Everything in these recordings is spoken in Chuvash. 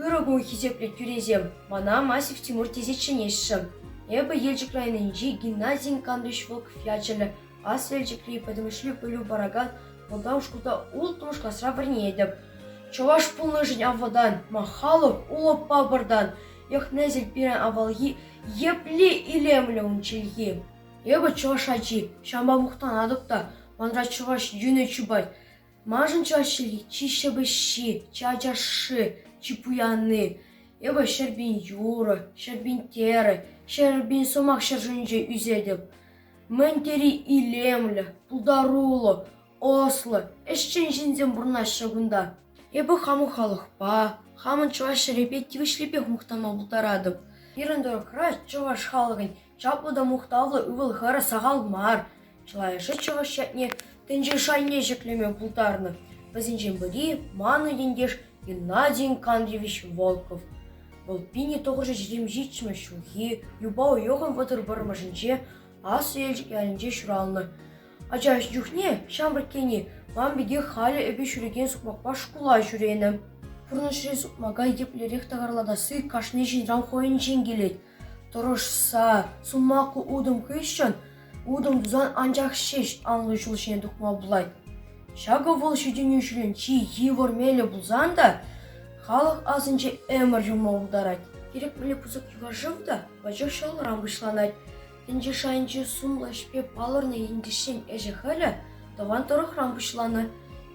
Ырӑ кун хисеплӗ тӳресем! Мана Масев Тимур тесе чӗнеҫҫӗ. Эпӗ Елчӗк районӗнчи Геннадий Икандрович Волков ячӗллӗ Аслӑ Елчӗкри пӗтӗмӗшле пӗлӳ паракан малтан шкулта улттӑмӗш класра вӗренетӗп. Чӑваш пулнӑшӗн авалтан, махалӑх улӑп папӑртан, йӑх-несӗл пирӗн авалхи епле илемлӗ ун чӗлхи! Эпӗ чӑваш ачи, ҫавӑнпа мухтанатӑп та манра чӑваш йӳнӗ чупать. Маншӑн чӑваш чӗлхи чи ҫепӗҫҫи, чи ачашши, чи пуянни. Эпӗ ҫӗр пин юрӑ, ҫӗр пин терӗ, ҫӗр пин сӑмах ҫӗршывӗнче ӳсетӗп. Мӗн тери илемлӗ, пултаруллӑ, ӑслӑ, ӗҫчен ҫынсем пурӑнаҫҫӗ кунта. Эпӗ хамӑн халӑхпа, хамӑн чӑваш ҫӗрӗпе тивӗҫлипех мухтанма пултаратӑп. Пирӗн тӑрӑхра чӑваш халӑхӗн Чаплӑ та мухтавлӑ ывӑл-хӗр сахал мар. Чылайӑшӗ чӑваш ятне тӗнче шайне ҫӗклеме пултарнӑ. Вӗсенчен пӗри – манӑн ентеш Геннадий Икандрович Волков. Вӑл пинӗ тӑхӑрҫӑ ҫитӗм ҫиччӗмӗш ҫулхи юпа уйӑхӑн вӑтӑр вӑрмӑшӗнче Аслӑ Елчӗк ялӗнче ҫуралнӑ. Ача чухне ҫамрӑккине ман пекех халӗ эпӗ ҫӳрекен сукмакпа шкула ҫӳренӗ. Пурнӑҫри сукмака еплерех такӑрлатасси кашни ҫынран хӑйӗнчен килет. Тӑрӑшса сулмаку утӑм хыҫҫӑн утӑм тусан анчах ҫеҫ анлӑ ҫул ҫине тухма пулать. Ҫакӑ вӑл ҫитӗнӳҫӗрен чи йывӑр мелӗ пулсан та халӑх асӗнче ӗмӗр юлма пултарать. Кирек мӗнле пысӑк юханшыв та пачах ҫӑлӑран пуҫланать. Тӗнче шайӗнчи сумлӑ ӗҫпе палӑрнӑ ентешсен ӗҫӗ-хӗлӗ тӑван тӑрӑхран пуҫланӑ.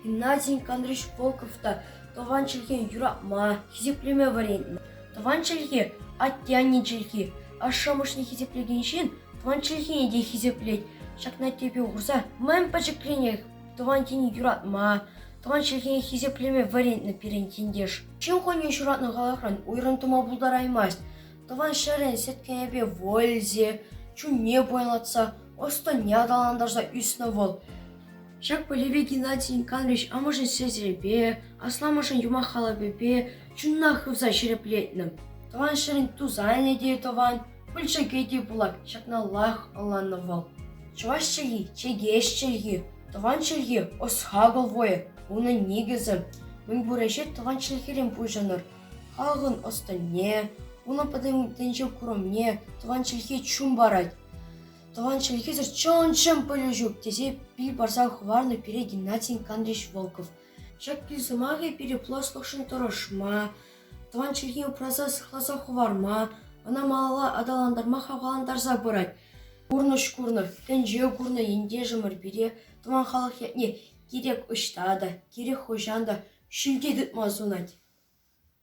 Геннадий Николаевич Волков та тӑван чӗлхене юратма, хисеплеме вӗрентнӗ. Тӑван чӗлхе – атте-анне чӗлхи. Ашшӗ-амӑшне хисеплекен ҫын тӑван чӗлхене те хисеплет. Ҫакна тӗпе хурса мӗн пӗчӗкренех тӑван тени юратма, тӑван чӗлхене хисеплеме вӗрентнӗ пирӗн ентеш. Ҫын хӑйне ҫуратнӑ халӑхран уйрӑм тума пултараймасть. Тӑван ҫӗрӗн сӗткенӗпе вользе, чунне пуянлатса, ӑс-тӑнне аталантарса ӳснӗ вӑл. Ҫак пӗлӗве Геннадий Николаевич амӑшӗн сестрипе, асламӑшӗн юмах халапӗпе, Чунах хывса ҫирӗплетнӗ. Тӑван ҫӗрӗн тусанӗ те тӑван, пылчӑкӗ те пулак. Ҫакналлах ӑнланнӑ вӑл. Чӑваш чӗлхи – чӗкеҫ чӗлхи, тӑван чӗлхи – ӑс-хакӑл вӑйӗ. Унӑн никӗсӗ – мӗнпур ӗҫе тӑван чӗлхерен пуҫӑнӑр. Халӑхӑн ӑс-тӑнне, унӑн пӗтӗмтенчӗ курӑмне тӑван чӗлхе чун парать. Тӑван чӗлхесӗр чӑн-чӑн пӗлӳ ҫук, тесе пил парса хӑварнӑ пире Геннадий Андреевич Волков. Ҫакӑн сӑмахӗ пире пуласлӑхшӑн тӑрӑшма, тӑван чӗлхе упраса сыхласа хӑварма, ӑна малалла аталантарма хавхалантарса пырать. Пурнӑҫ курнӑ, тӗнче курнӑ ентешӗмӗр пире тӑван халӑх ятне кирек ӑҫта та, кирек хӑҫан та ҫӳлте тытма сунать.